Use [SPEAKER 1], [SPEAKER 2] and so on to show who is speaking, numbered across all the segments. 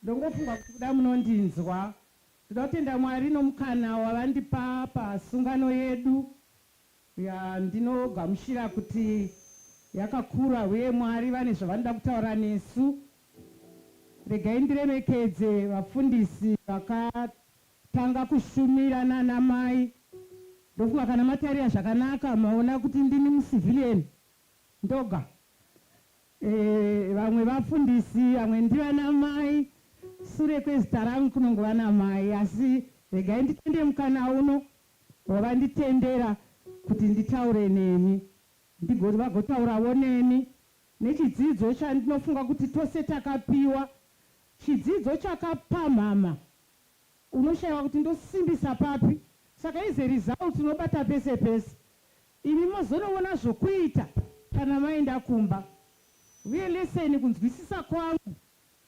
[SPEAKER 1] Ndongofunga kuti kuda munondinzwa. Ndoda kutenda Mwari nomukana wavandipa pasungano yedu yandinogamuchira kuti yakakura huye Mwari vane zvavanoda kutaura nesu. Regai ndiremekedze vafundisi vakatanga kushumira nana mai. Ndofunga kana matarira zvakanaka maona kuti ndini muCivilian ndoga. Eh, vamwe vafundisi vamwe ndivana mai sure kwezita rangu kunongova namai asi regai nditende mukana uno wavanditendera kuti nditaure nemi ndigo vagotauravo nemi nechidzidzo chandinofunga kuti tose takapiwa chidzidzo chakapamhama unoshaiwa kuti ndosimbisa papi saka is a result unobata pese pese Imi mozonovona zvokuita kana maenda kumba. Uye leseni kunzwisisa kwangu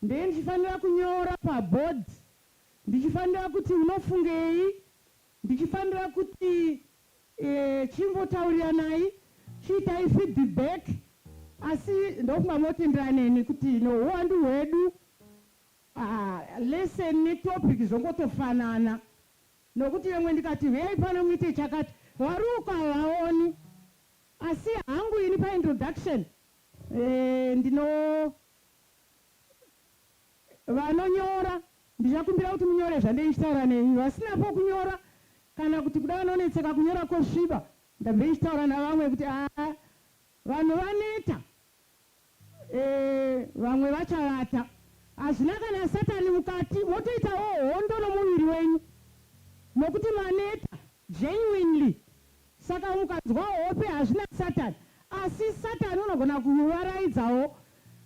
[SPEAKER 1] ndee ndichifanira kunyora paboard ndichifanira kuti unofungei ndichifanira kuti eh chimbotauriranai chiitai feedback asi ndofunga motenderana neni kuti no huwandu hwedu ah leseni netopic zvongotofanana Nokuti yemwe ndikati, Huyai pano muite chakati, vari uko havaoni. Asi hangu ini paintroduction, eh, ndino. Vanonyora, ndichakumbira kuti munyore zvandei ndichitaura nemi. Vasina pokunyora, kana kuti kuda vanonetseka kunyora kosviba, ndabvei ndichitaura navamwe kuti, Ah, vanhu vaneta. Eeh vamwe vachavata. Hazvina kana satani mukati motoitawo hondo nomuviri wenyu nokuti maneta genuinely saka mukanzwa hope hazvina satan asi satan unogona kuvaraidzawo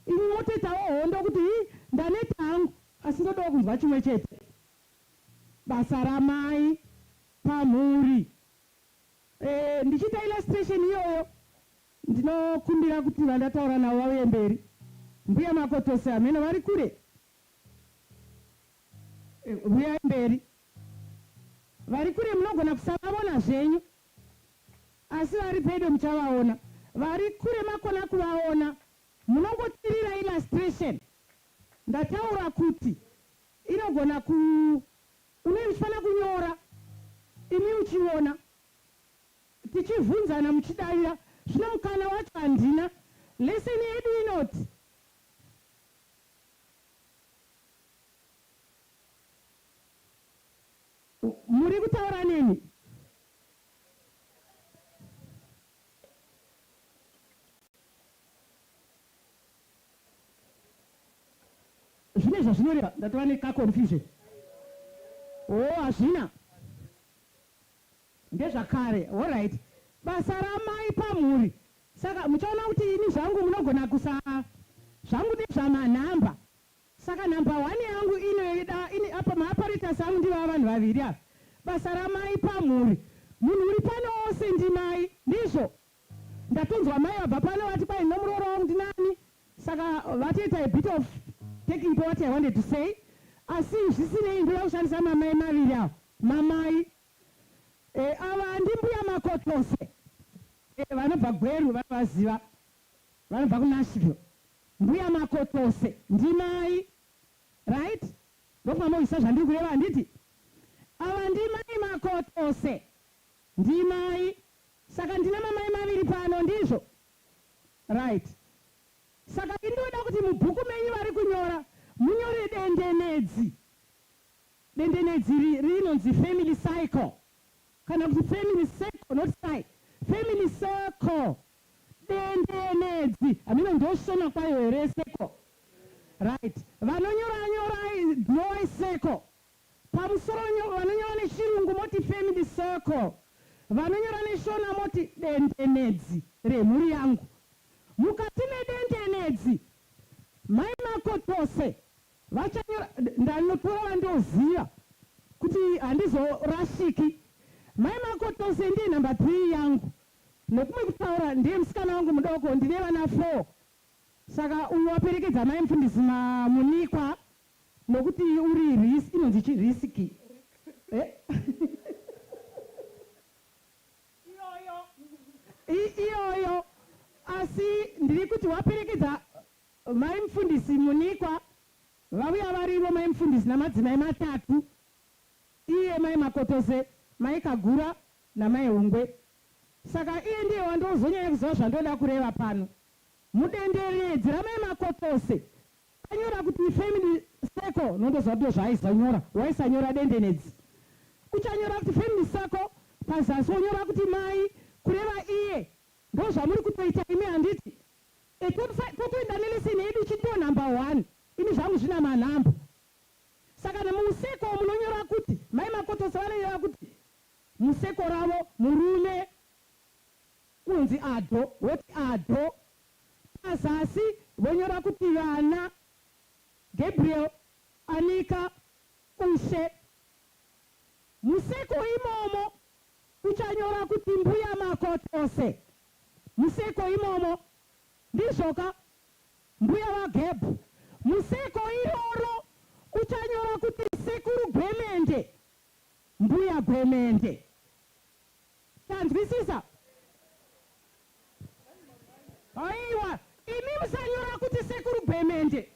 [SPEAKER 1] imi motoitawo hondo kuti hi ndaneta hangu asi ndodawo kunzwa chimwe chete basa ramai pamhuri eeh ndichiita illustration iyoyo Ndinokumbira kuti vandataura navo vauye mberi. Mbuya Makotosi hameno vari kure? Huyai mberi. Vari kure munogona kusavavona zvenyu asi vari pedo muchavaona. Vari kure makona kuvaona munongotirira illustration. Ndataura kuti inogona ku. Unenge uchifanira kunyora imi uchiona. tichivhunzana muchidavira zvino mukana wacho handina. Lesson yedu inoti. Muri kutaura neni? Zvine zvazvinoreva ndatova neka confusion. Hoo hazvina. Ndezvakare horait basa ramai pamhuri saka muchaona kuti ini zvangu munogona kusa zvangu nezvama number saka number one yangu inoida ini apa maaparators angu ndivo ava vanhu vaviri ava basa ramai pamhuri munhu uri pano ose ndimai ndizvo ndatonzwa mai vabva pano vati kwai nomuroora wangu ndinani saka vatoita a bit of taking po what I wanted to say asi zvisinei ndoda kushandisa mamai maviri awa Mamai. Eh ava ndi mbuya Makotose. Eh vanobva Gweru vanovaziva. Vanobva ku Nashville. Mbuya Makotose ndimai right? Ndokubva mohwisa zvandiri kureva handiti? Ava ndimai Makotose. Ndimai. Saka ndina mamai maviri pano ndizvo? Right. Saka ini ndoda kuti mubhuku menyu vari kunyora munyore dendenedzi. Dendenedzi iri rinonzi family cycle kana kuti family circle not cy family circle. Dendenedzi hameno ndoshona kwayo here circle right vanonyora nyorai drawai circle pamusoro nyo vanonyora nechirungu moti family circle vanonyora neshona moti dendenedzi remhuri yangu mukati medendenedzi mai makotose Vachanyora ndanotora vandoziva kuti handizorashiki. Mai Makotose ndiye number three yangu nekumwe kutaura ndiye musikana wangu mudoko ndine vana four saka uyu waperekedza mai mufundisi mamunikwa nokuti uri risk inonzi chi risk iyoyo asi ndiri kuti waperekedza Mai mufundisi Munikwa vauya varivo mai mufundisi namadzimai matatu iye mai Makotose, mai Kagura namai Hungwe. Saka iye ndiye wandoozonyanya kuziva zvandoda kureva pano. Mudenderedzi ramai Makotose anyora kuti family circle nondoziva kuti ndozvaaizonyora. Waisanyora dendenedzi. Uchanyora kuti family circle pazasi wonyora kuti mai kureva iye. Ndozvamuri kutoita imi handiti? Ko kuenda neleseni yedu ichitiwo number one ini zvangu zvina manhambo saka nemumuseko munonyora kuti mai Makotose vanonyora kuti museko ravo murume kunzi Ado woti Ado pazasi vonyora kuti vana Gabriel Anika Ushe museko imomo uchanyora kuti mbuya Makotose Museko imomo. Ndizvoka mbuya vaGeb. Museko iroro uchanyora kuti sekuru Gwemende, mbuya Gwemende. Tanzwisisa? Haiwa imi musanyora kuti sekuru Gwemende.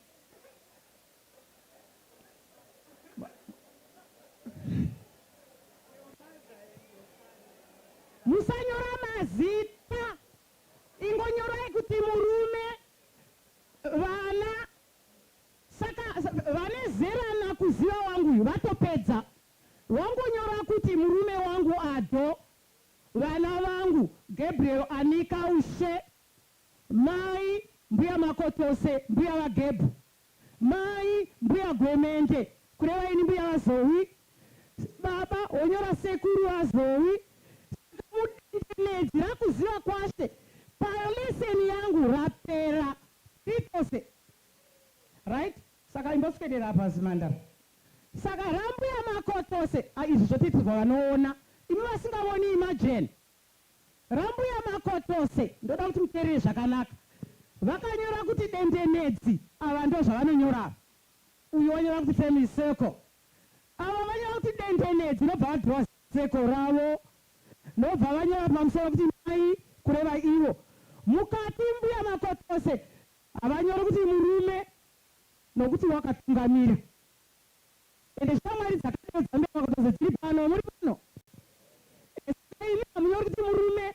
[SPEAKER 1] musanyora mazita ingonyorai kuti murume vana saka vane zera nakuziva wangu uyu vatopedza wangonyora kuti murume wangu ado vana vangu gabriel anika ushe mai mbuya makotose mbuya vagebhu Mai, Mbuya Gwemente, kureva ini mbuya vaZoe. Baba, Honyora sekuru vaZoe. Saka mudendenedzi rakuziva kwashe payo lesson yangu rapera Pitose right saka imboswedera apa zimhandara saka rambuya makotose ah izvi zvotiitirwa vanoona imi vasingavoni imagine Rambuya Makotose ndoda kuti muterere zvakanaka. Vakanyora kuti dendenedzi ava ndozvavanonyora ava. Uyu wanyora kuti family circle. Ava vanyora kuti dendenedzi ndobva vadhirowa circle ravo ndobva vanyora pamusoro kuti mai kureva ivo. Mukati mbuya Makotose havanyori kuti murume nokuti wakatungamira. Ende shamwari dzakadero dzaMbemakotoze dziri pano. Muri pano? Ende saka imi hamunyori kuti murume.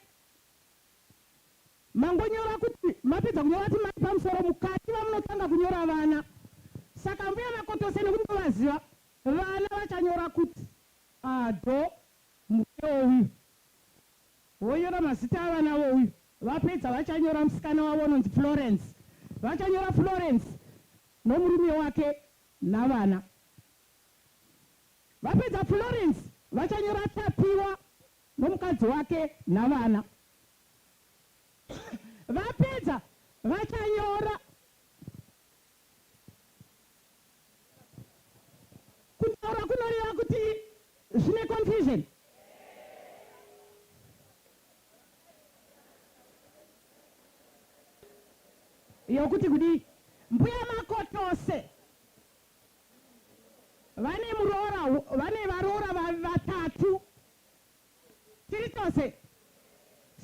[SPEAKER 1] Mangonyora kuti, mapedza kunyora kuti mai pamusoro, mukati vamunotanga kunyora vana. Saka Ambuya Makotose nekuti ndovaziva, vana vachanyora kuti, Ado, murume wouyu. Vonyora mazita avana vouyu. Vapedza vachanyora musikana wavo unonzi Florence. Vachanyora Florence nomurume wake navana. Vapedza Florence vachanyora Tapiwa nomukadzi wake navana. Vapedza vachanyora kutaura kunoreva kuti zvine confusion. yokuti kudii mbuya Makotose vane muroora vane varoora vatatu tiri tose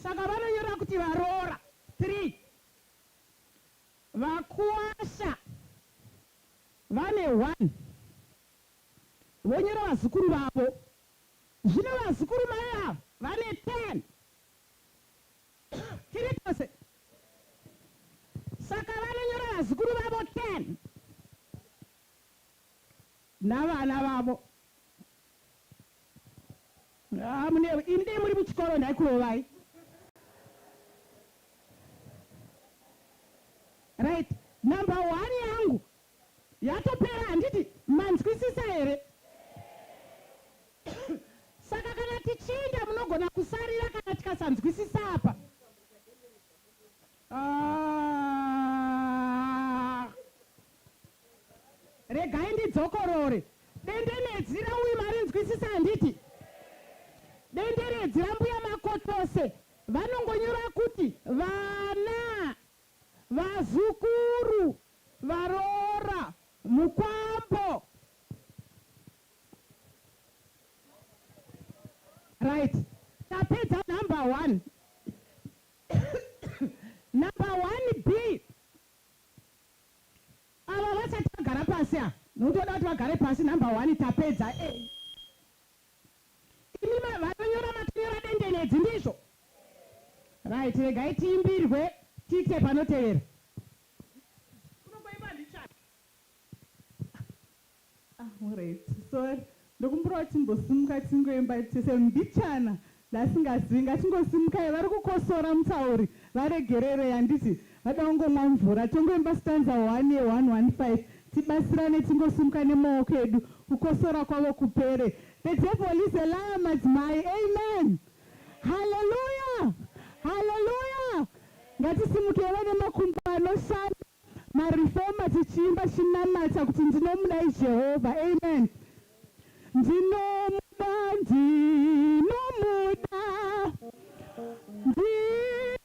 [SPEAKER 1] saka vanonyora kuti varoora three vakuwasha vane one vonyora vazukuru vavo Zvino vazukuru mai ava vane ten. Tiri tose. Saka vanonyora vazukuru vavo ten. Navana vavo. Haa munewe. Imi dai muri muchikoro ndaikurovai. Right. Number one yangu Yatopera handiti manzwisisa here? Saka kana tichiinda munogona kusarira kana tikasanzwisisa apa. Aah. Regai ndidzokorore. Dendenedzi rauyi marinzwisisa handiti? Denderedzi rambuya Makotose vanongonyora kuti vana Vazukuru varoora mukwambo. Right tapedza number one. number one B ava vasati vagara pasi ava nokuti voda kuti vagare pasi number one tapedza A. Imi ma vanonyora matonyora dendenedzi ndizvo right regai tiimbirwe tite panotevera. Kuno kwaimba handichati.
[SPEAKER 2] Ah alright sorry ndokumbirawo timbosimuka tingoimba tese mbichana ndaasingazivi ngatingosimukai varikukosora mutauri varegererei handiti Hada ungomwa mvura tongoimba stanza one ye 115 tibatsirane tingosimuka nemaoko edu kukosora kwavo kupere the devil is a liar madzimai amen hallelujah hallelujah ngatisimukei vane makumbo anoshanda mareformer tichiimba chinamata kuti ndinomudai Jehovah amen ndinomuda ndinomuda ndinomuda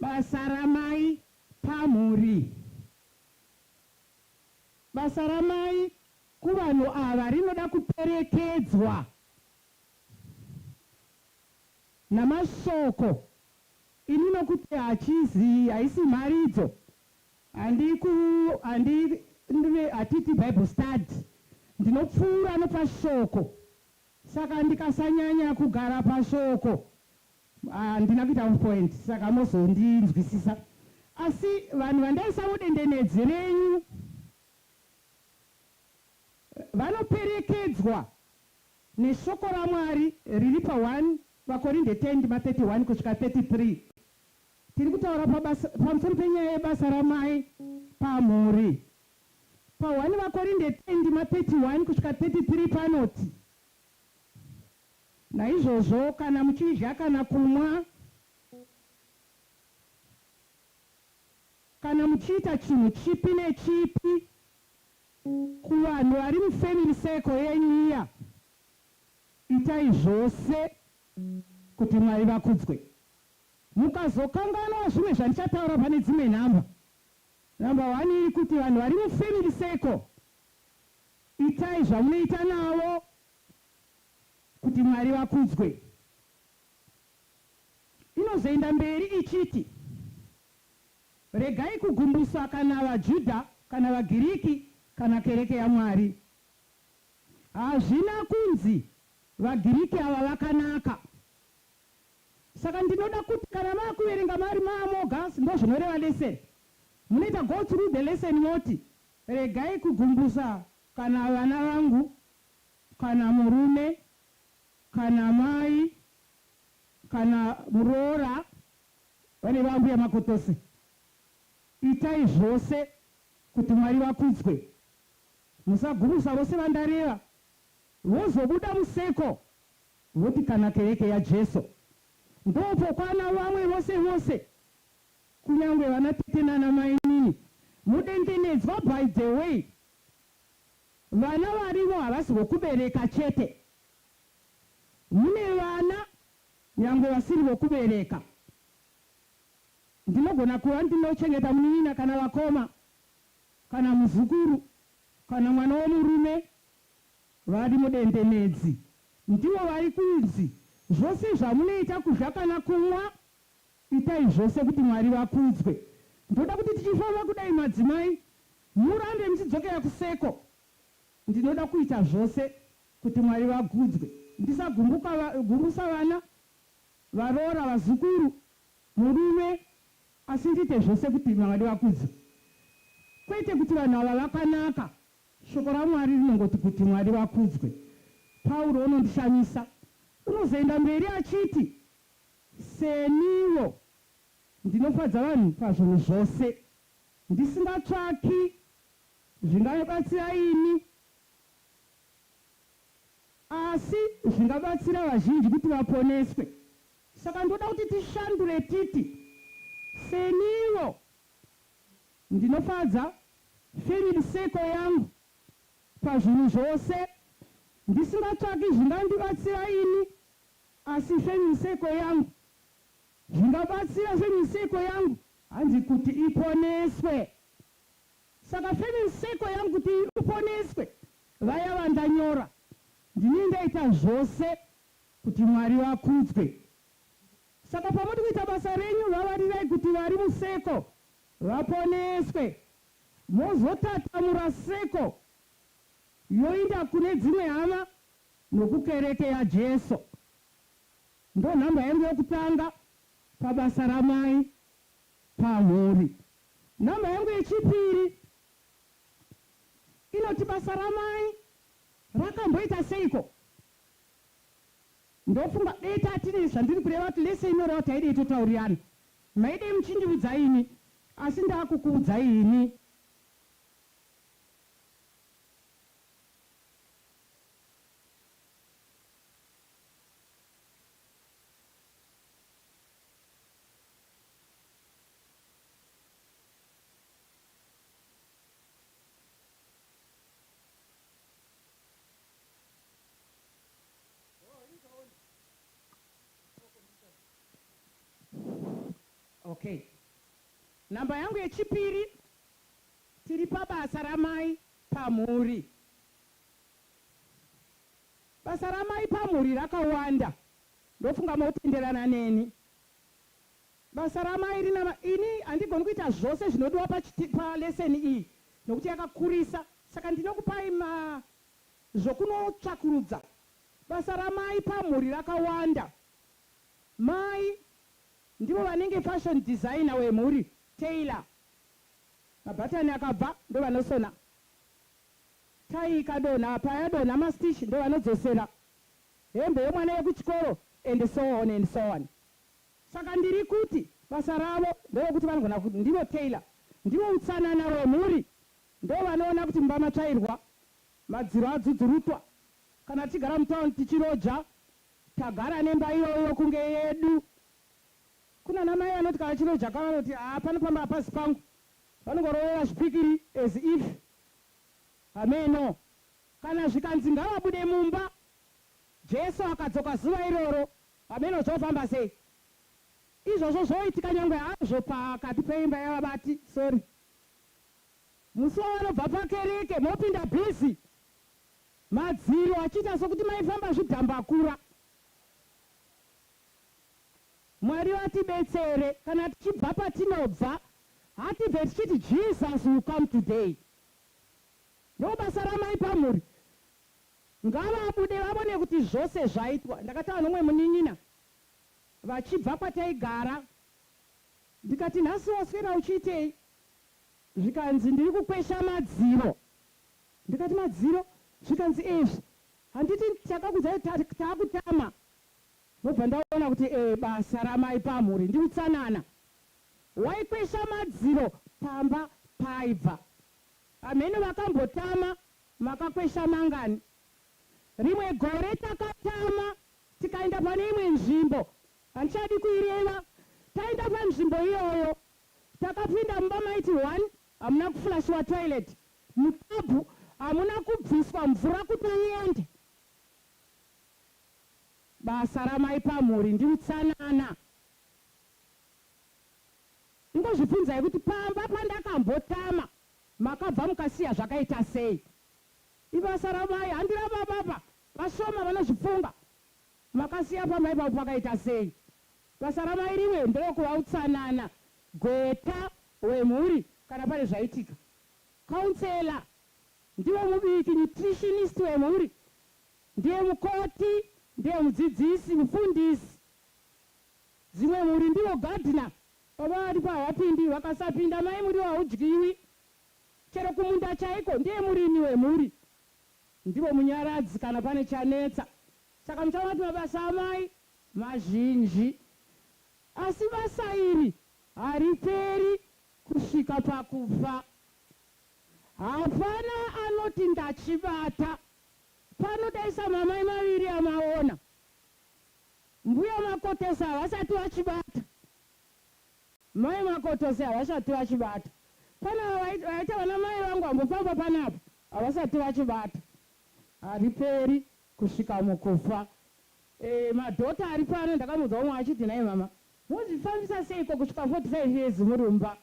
[SPEAKER 2] Basa ramai pamhuri. Basa ramai kuvanhu ava rinoda kuperekedzwa namashoko ini nokuti hachizi haisi mharidzo handiku handi ndive hatiti bible study ndinopfuura nopashoko Saka ndikasanyanya kugara pashoko handina kuita on point saka mozondinzwisisa asi vanhu vandaisa mudendenedzi renyu vanoperekedzwa neshoko raMwari riri pa 1 Vakorinde 10 ndima 31 kusvika 33. Tiri kutaura pabasa, pamusoro penyaya yebasa ramai pamhuri. Pa 1 Vakorinde 10 ndima 31 kusvika 33 panoti, Naizvozvo kana muchidya kana kumwa, kana muchiita chinhu chipi nechipi, kuvanhu vari mu family circle yenyu iya, itai zvose kuti Mwari vakudzwe. Mukazokanganwa zvimwe zvandichataura pane dzimwe nhamba, Number one iri kuti vanhu vari mu family circle itai zvamunoita navo kuti Mwari vakudzwe. Inozoenda mberi ichiti, Regai kugumbusa kana vaJudha kana vaGiriki kana kereke yaMwari. Hazvina kunzi vaGiriki ava vakanaka Saka ndinoda kuti kana maakuverenga maari maamogas ndozvinoreva lesson. Munoita go through the lesson moti regai kugumbusa kana vana vangu kana murume kana mai
[SPEAKER 1] kana muroora vane vaambuya makotose. Itai zvose kuti Mwari vakudzwe. Musagumbusa vose vandareva vozobuda museko Tinoti kana kereke yaJesu ndopokwana vamwe vose vose kunyangwe vana tete nana mainini mudendenedzwa by the way vana varimo havasi vokubereka chete mune vana nyangwe vasiri vokubereka ndinogona kuva ndinochengeta munin'ina kana vakoma kana muzukuru kana mwana womurume Vari mudendenedzi ndivo vari kunzi, Zvose zvamunoita kudya kana kumwa, itai zvose kuti Mwari vakudzwe. Ndoda kuti tichifamba kudai madzimai murambe muchidzokera kuseko. Ndinoda kuita zvose kuti Mwari vakudzwe, ndisagumbuka gumbusa vana, varoora, vazukuru, murume asi ndiite zvose kuti Mwari vakudzwe kwete kuti vanhu ava vakanaka. Shoko raMwari rinongoti kuti Mwari vakudzwe. Pauro unondishamisa. Unozoenda mberi achiti, Seniwo, ndinofadza vanhu pazvinhu zvose, ndisingatsvaki zvingabatsira ini, asi zvingabatsira vazhinji kuti vaponeswe. Saka ndoda kuti tishandure titi, Seniwo. Ndinofadza Philip Seko yangu pazvinhu zvose ndisingatsvaki zvingandibatsira ini asi Family Seko yangu zvingabatsira Family Seko yangu. Hanzi kuti iponeswe saka Family Seko yangu kuti uponeswe vaya vandanyora ndini ndaita zvose kuti Mwari vakudzwe saka pamuri kuita basa renyu vavarirai kuti vari museko vaponeswe mozotatamura seko yoinda kune dzimwe hama nokukereke yaJeso ndonhamba yangu yokutanga pabasa ramai pamhuri nhamba yangu yechipiri inoti basa ramai rakamboita seiko ndofunga dai tatine zvandiri kureva kuti lese inoreva taidei totaurirana Maidei muchindiudza imi asi ndakukuudzai ini. Okay number yangu yechipiri tiri pabasa ramai pamhuri. Basa ramai pamhuri rakawanda ndofunga motenderana neni. Basa ramai rina ini handigoni kuita zvose zvinodiwa paleseni iyi nokuti yakakurisa saka ndinokupai ma zvokunotsvakurudza. Basa ramai pamhuri rakawanda Mai ndivo vanenge fashion designer wemhuri, tailor. Mabhatani akabva ndovanosona. Tie ikadonha payadonha mastitch ndovanodzosera. Hembe yemwana yekuchikoro and so on and so on. Saka ndiri kuti basa ravo nderokuti vanogona kuti ndivo tailor, ndivo utsanana wemhuri, ndovanoona kuti mumba matsvairwa, madziro adzudzurutwa. Kana tichigara mutown tichiroja Tagara nemba iyoyo kunge yedu. Kunana mai vanoti kana chirojaka vanoti haa pano pamba hapasi pangu. Vanongorovera zvipikiri as if hameno. Kana zvikanzi ngavabude mumba Jesu akadzoka zuva iroro hameno zvofamba sei. Izvozvo zvoitika nyangwe hazvo pakati peimba yavabati sorry. Musi wavanobva pakereke mopinda busy Madziro achiita sokuti maifamba zvidhambakura. Mwari vatibetsere kana tichibva patinobva hatibve tichiti Jesus will come today. Ndobasa ramai pamhuri. Ngavabude vavone kuti zvose zvaitwa. Ndakataura nomwe munin'ina vachibva kwataigara ndikati nhasi waswera uchiitei? Zvikanzi ndiri kukwesha madziro Ndikati madziro zvikanzi ezvi handiti ndakakudzai kti takutama ndobva ndaona kuti ee basa ramai pamhuri ndiutsanana waikwesha madziro pamba paibva amheno vakambotama makakwesha mangani rimwe gore takatama tikaenda pane imwe nzvimbo handichadi kuireva taenda panzvimbo iyoyo takapinda mumba maiti one Hamuna kuflashiwa toilet mutabhu hamuna kubviswa mvura kuti iende. Basa ramai pamhuri ndiutsanana. Ingozvibvunzai kuti pamba pandakambotama makabva mukasiya zvakaita sei. Ibasa ramai handi rababa apa vashoma vanozvifunga. Makasiya pamba ipapo pakaita sei. Basa ramai rimwe nderokuva utsanana. Gweta wemhuri kana pane zvaitika. Counselor ndivo mubiki, nutritionist wemhuri ndiye mukoti, ndiye mudzidzisi, mufundisi. Dzimwe mhuri ndivo gardener, baba varipo havapindi, vakasapinda mai muriwo haudyiwi. Chero kumunda chaiko ndiye murimi wemhuri. Ndivo munyaradzi kana pane chanetsa. Saka muchaona kuti mabasa amai mazhinji. Asi basa iri Hariperi kusvika pakufa. Hapana anoti ndachibata pano dai samamai maviri amaona. Mbuya Makotose havasati vachibata. Mai Makotose havasati vachibata. Pane ava vaita vana mai vangu vambofamba panapa havasati vachibata. Hariperi kusvika mukufa. Eh madhota aripano ndakamboudza umwe achiti nhai mama Mozvifambisa seiko kusvika 45 years muri mumba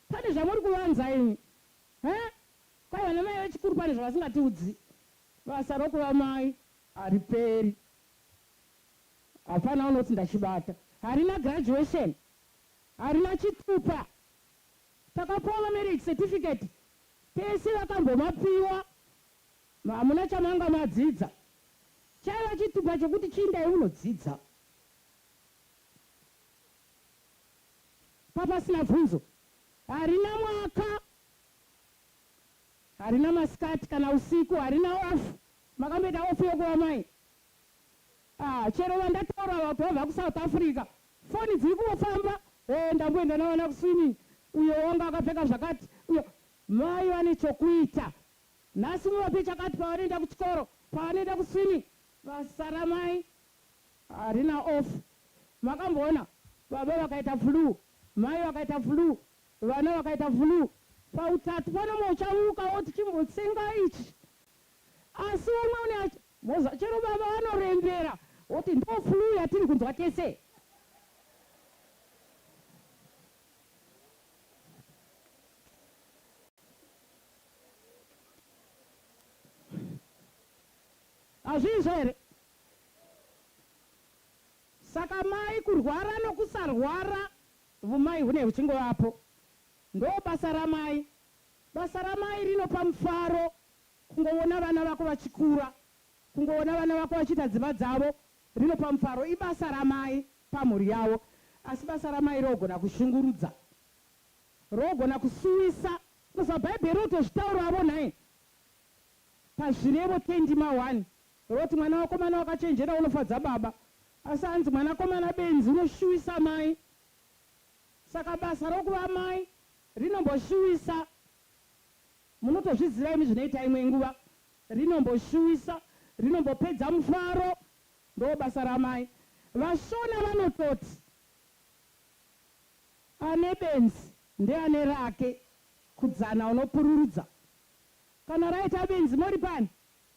[SPEAKER 1] pane zvamuri kuvanza imi huh kwai vana mai vechikuru pane zvavasingatiudzi basa rokuva mai hariperi hapana unoti ndachibata harina graduation harina chitupa takapuwa mamarriage certificate tese vakambomapiwa hamuna chamanga madzidza chaiva chitupa chekuti chiindai munodzidza Papasina bvunzo. Harina mwaka, harina masikati kana usiku, harina off. Makamboita off yokuva mai? Ah, chero vandataura ava kuti vabva kuSouth Africa, foni dziri kungofamba. Eh, ndamboenda navana kuswimming, uyo wanga akapfeka zvakati, uyo. Mai vane chokuita. Nhasi muvape chakati pavanoenda kuchikoro, pavanoenda kuswimming. Vasara mai harina off makamboona baba vakaita flue mai vakaita flue vana vakaita flue pautatu panoma uchamuka woti chimbotsenga ichi asi umwe une achi moza chero baba vanorembera woti ndo flue yatiri kunzwa tese hazviizvo here Saka mai kurwara nokusarwara vumai hune huchingovapo ndobasa ramai basa ramai rinopa mufaro kungoona vana vako vachikura kungoona vana vako vachiita dzimba dzavo rinopa mufaro ibasa ramai pamhuri yavo asi basa ramai rogona kushungurudza rogona kusuwisa bcoz pabhaibheri rotozvitauravo nhai pazvirevo 10 ndima 1 Robert mwana wakomana wakachenjera unofadza baba asi hanzi mwana komana benzi unoshuwisa mai saka basa rokuva mai rinomboshuwisa munotozviziva imi zvinoita imwe nguva rinomboshuwisa rinombopedza mufaro ndobasa ramai vashona vanototi ane benzi ndeane rake kudzana unopururudza kana raita benzi moripani.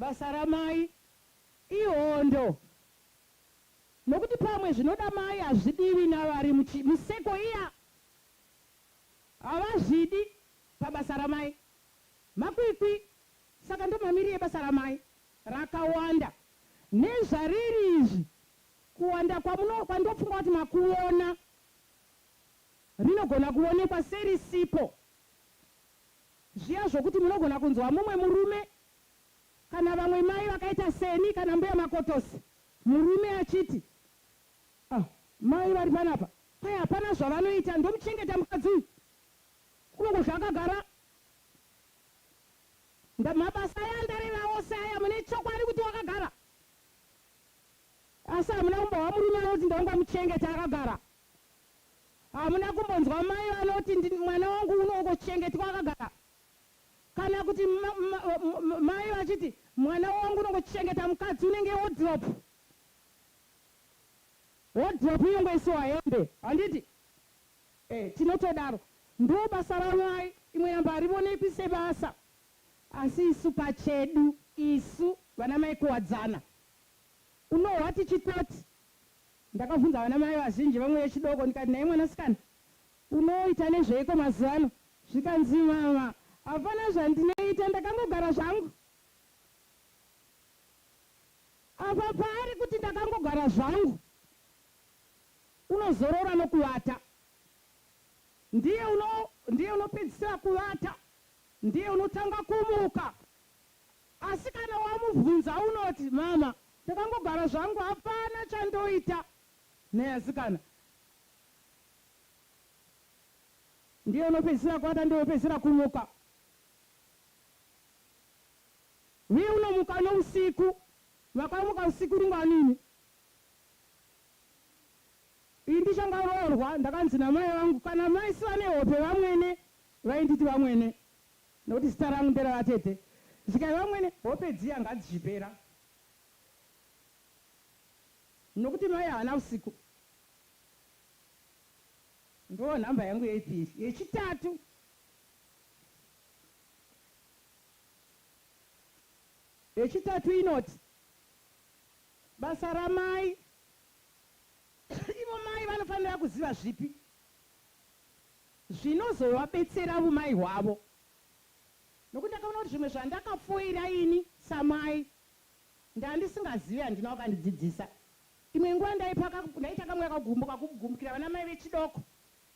[SPEAKER 1] Basa ramai ihondo nokuti pamwe zvinoda mai hazvidiwi navari museko iya havazvidi pabasa ramai makwikwi saka ndomamiri ebasa ramai rakawanda nezvariri izvi kuwanda kwandopfunga kuti makuona rinogona kuonekwa serisipo zviya zvokuti munogona kunzwa mumwe murume kana vamwe mai vakaita seni kana mbuya makotosi murume achiti ah mai vari panapa kwai hapana zvavanoita ndomuchengeta mukadzi uyu kunongodya akagara ndamabasa aya andareva ose aya mune chokwadi kuti wakagara asi hamuna kumbohwa murume anoti ndaungamuchengeta akagara Hamuna kumbonzwa mai vanoti ndi, mwana wangu unongochengetwa akagara kana kuti ma, ma, ma, mai vachiti mwana wangu unongochengeta mukadzi unenge wodhiropu wodhiropu inongoisiwa hembe handiti eh, tinotodaro ndo basa ramai imwe namba harivonekwi sebasa asi isu pachedu isu vana mai kuwadzana unohwa tichitoti Ndakabvunza vana mai vazhinji vamwe vechidoko ndikati nhai mwanasikana unoita nezveiko mazuvano zvikanzi mama hapana zvandinoita ndakangogara zvangu apa paari kuti ndakangogara zvangu unozorora nokuvata ndiye uno ndiye unopedzisira kuvata ndiye unotanga kumuka Asi kana wamubvunza unoti mama ndakangogara zvangu hapana chandoita nhai asikana. Ndiye unopedzisira kuata ndiye unopedzisira kumuka uye unomuka nousiku vakamuka usiku rungwanini. Ini ndichangaroorwa ndakanzi namai vangu kana mai sivane hope vamwene vainditi vamwene. Nokuti zita rangu nderavatete. Zvikange vamwene hope dziya ngadzichipera. Nokuti mai havana usiku. Ndoo nhamba yangu yepiri. Yechitatu. Yechitatu inoti. Basa ramai. Ivo mai vanofanira kuziva zvipi. zvinozovabetsera vumai hwavo nokuti ndakaona kuti zvimwe zvandakafoira ini samai ndandisingazivi handina wakandidzidzisa imwe nguva ndaipaka ndaita kamwe kakugumbuka kugumukira vana mai vechidoko